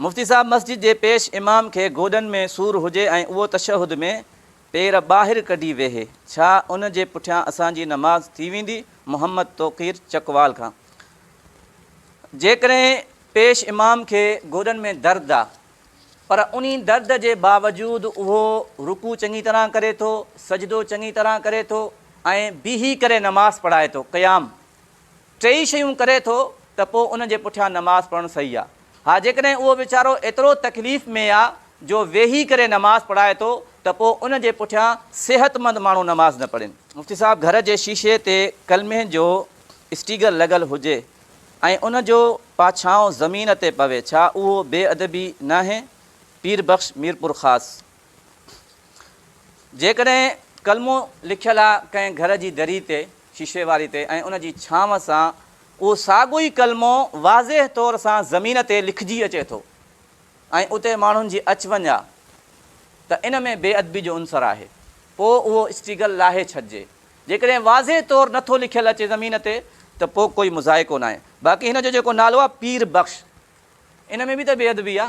مفتي صاحب مسجد جي پيش امام کي گوڏن ۾ سور هجي ۽ اهو تشهد ۾ پير ٻاهر ڪڍي ويهي، ڇا ان جي پٺيان اسان جي نماز ٿي ويندي؟ محمد توقير چڪوال کان جيڪڏهن پيش امام کي گوڏن ۾ درد آ پر انهي درد جي باوجود اهو رڪوع چڱي طرح ڪري ٿو، سجدو چڱي طرح ڪري ٿو ۽ بيهي ڪري نماز پڙهائي ٿو، قيام. ٽيئي شيون ڪري ٿو ته پوء ان جي پٺيان نماز پڙهڻ صحيح آهي. ها جيڪڏهن اهو ويچارو ايترو تڪليف ۾ آ جو ويهي ڪري نماز پڙهائي ٿو ته پوء ان جي پٺيان صحتمند ماڻهو نماز نه پڙهين. مفتي صاحب گهر جي شيشي تي ڪلمي جو اسٽيگر لڳل هجي ۽ ان جو پاڇائون زمين تي پوي ڇا اهو بي ادبي ناهي؟ پير بخش ميرپورخاص. جيڪڏهن ڪلمو لکيل آ ڪنهن گهر جي دري تي، شيشي واري تي ۽ ان جي ڇانو سان اهو ساڳيو ئي ڪلمو واضح طور سان زمين تي لکجي اچي ٿو ۽ اتي ماڻهن جي اچ وڃ آ ته ان ۾ بي ادبي جو عنصر آهي پوء اهو اسٽيگل لاهي ڇڏجي جيڪڏهن واضح طور نه ٿو لکيل اچي زمين تي ته پوء ڪوئي مذائقو ناهي باقي هن جو جيڪو نالو آ پير بخش ان ۾ به ته بي ادبي آ.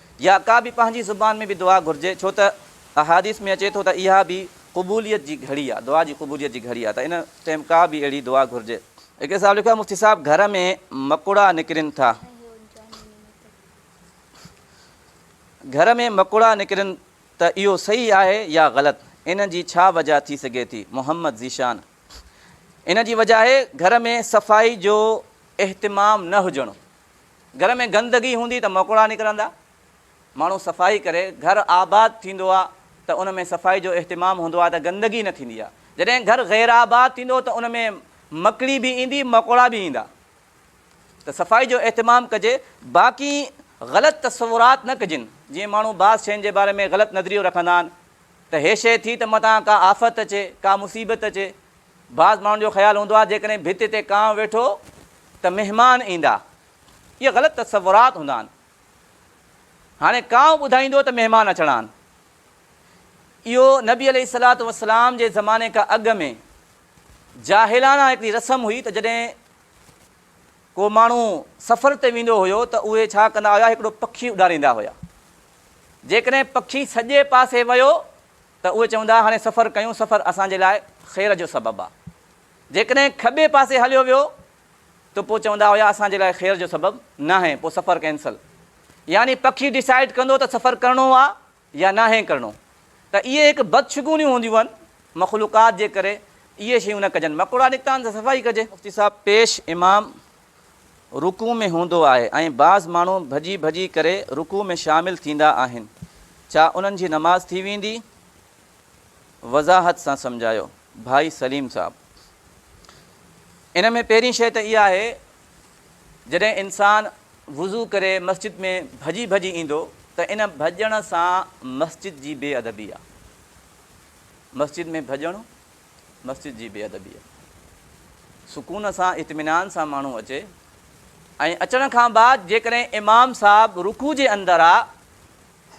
يا ڪا به پنهنجي زبان ۾ به دعا گهرجي ڇو ته احاديث ۾ اچي ٿو ته اها به قبوليت جي گهڙي آهي دعا جي قبوليت جي گهڙي آهي ته ان ٽيم ڪا به اهڙي دعا گهرجي. هڪڙي صاحب لکيو آهي مفتي صاحب گهر ۾ مڪوڙا نڪرين ٿا گهر ۾ مڪوڙا نڪرين ته اهو صحيح آهي يا غلط ان جي ڇا وجه ٿي سگهي ٿي محمد ذيشان ان جي وجه آهي گهر ۾ صفائي جو اهتمام نه هجڻ. گهر ۾ گندگي هوندي ته مڪوڙا نڪرندا. ماڻهو صفائي ڪري، گهر آباد ٿيندو آ ته ان ۾ صفائي جو اهتمام هوندو آ ته گندگي نه ٿيندي آ. جڏهن گهر غير آباد ٿيندو ته ان ۾ مڪڙي به ايندي، مڪوڙا به ايندا. ته صفائي جو اهتمام ڪجي. باقي غلط تصورات نه ڪجن. جيئن ماڻهو بعض شين جي باري ۾ غلط نظريو رکندا آهن ته هي شي ٿي ته متان ڪا آفت اچي، ڪا مصيبت اچي، بعض ماڻهن جو خيال هوندو آهي جيڪڏهن ڀت تي ڪانء ويٺو ته مهمان ايندا. اهي غلط تصورات هوندا آهن. هاڻي ڪانء ٻڌائيندو ته مهمان اچڻا آهن. اهو نبي عليه الصلوة والسلام جي زماني کان اڳ ۾ جاهلانه هڪڙي رسم هئي ته جڏهن ڪو ماڻهو سفر تي ويندو هيو ته اهي ڇا ڪندا هيا هڪڙو پکي اڏاريندا هيا. جيڪڏهن پکي سڄي پاسي ويو ته اهي چوندا هاڻي سفر ڪيون سفر اسان جي لاء خير جو سبب آ جيڪڏهن کٻي پاسي هليو ويو ته پو چوندا هيا اسان جي لاء خير جو سبب ناهي پو سفر ڪينسل يعني پکي ڊيسائيڊ ڪندو ته سفر ڪرڻو آ يا ناهي ڪرڻو ته اهي هڪ بدشگونيون هونديون هن مخلوقات جي ڪري اهي شيون نه ڪجن مڪوڙا نڪتا آهن ته صفائي ڪجي. مفتي صاحب پيش امام رڪوع ۾ هوندو آهي ۽ بعض ماڻهو ڀڄي ڀڄي ڪري رڪوع ۾ شامل ٿيندا آهن ڇا انهن جي نماز ٿي ويندي؟ وضاحت سان سمجهايو ڀائي سليم صاحب. ان ۾ پهرين شيء ته اها آهي جڏهن انسان وضو ڪري مسجد ۾ ڀڄي ڀڄي ايندو ته ان ڀڄڻ سان مسجد جي بي ادبي آهي. مسجد ۾ ڀڄڻ. مسجد جي بي ادبيء سڪون سان اطمينان سان ماڻهو اچي ۽ اچڻ کان بعد جيڪڏهن امام صاحب رڪوع جي اندر آ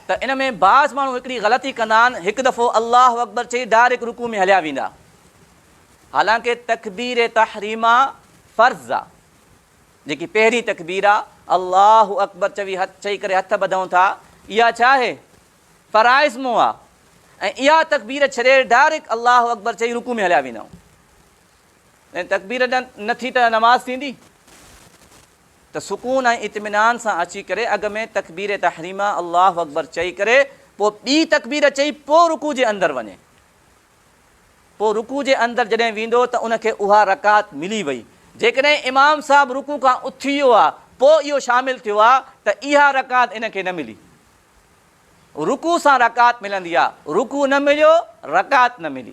ته ان ۾ بعض ماڻهو هڪڙي غلطي ڪندا آهن هڪ دفعو الله اڪبر چئي ڊائريڪٽ رڪوع ۾ هليا ويندا حالانڪه تڪبير تحريمه فرض آ جيڪي پهرين تڪبير آ الله اڪبر چوي هٿ چئي ڪري هٿ ٻڌون ٿا اها ڇا آهي فرائض مون آ ۽ اها تڪبير ڇڏي ڊائريڪٽ الله اڪبر چئي رڪوع ۾ هليا ويندا آهيون ۽ تڪبير نه ٿي ته نماز ٿيندي ته سڪون ۽ اطمينان سان اچي ڪري اڳ ۾ تڪبير تحريمه الله اڪبر چئي ڪري پوء ٻي تڪبير چئي پوء رڪوع جي اندر وڃي پوء رڪوع جي اندر جڏهن ويندو ته ان کي اها رڪعت ملي وئي جيڪڏهن امام صاحب رڪوع کان اٿي ويو آ پوء اهو شامل ٿيو آ ته اها رڪعت ان کي نه ملي. رڪوع سان رڪعت ملندي آ، رڪوع نه مليو، رڪعت نه ملي.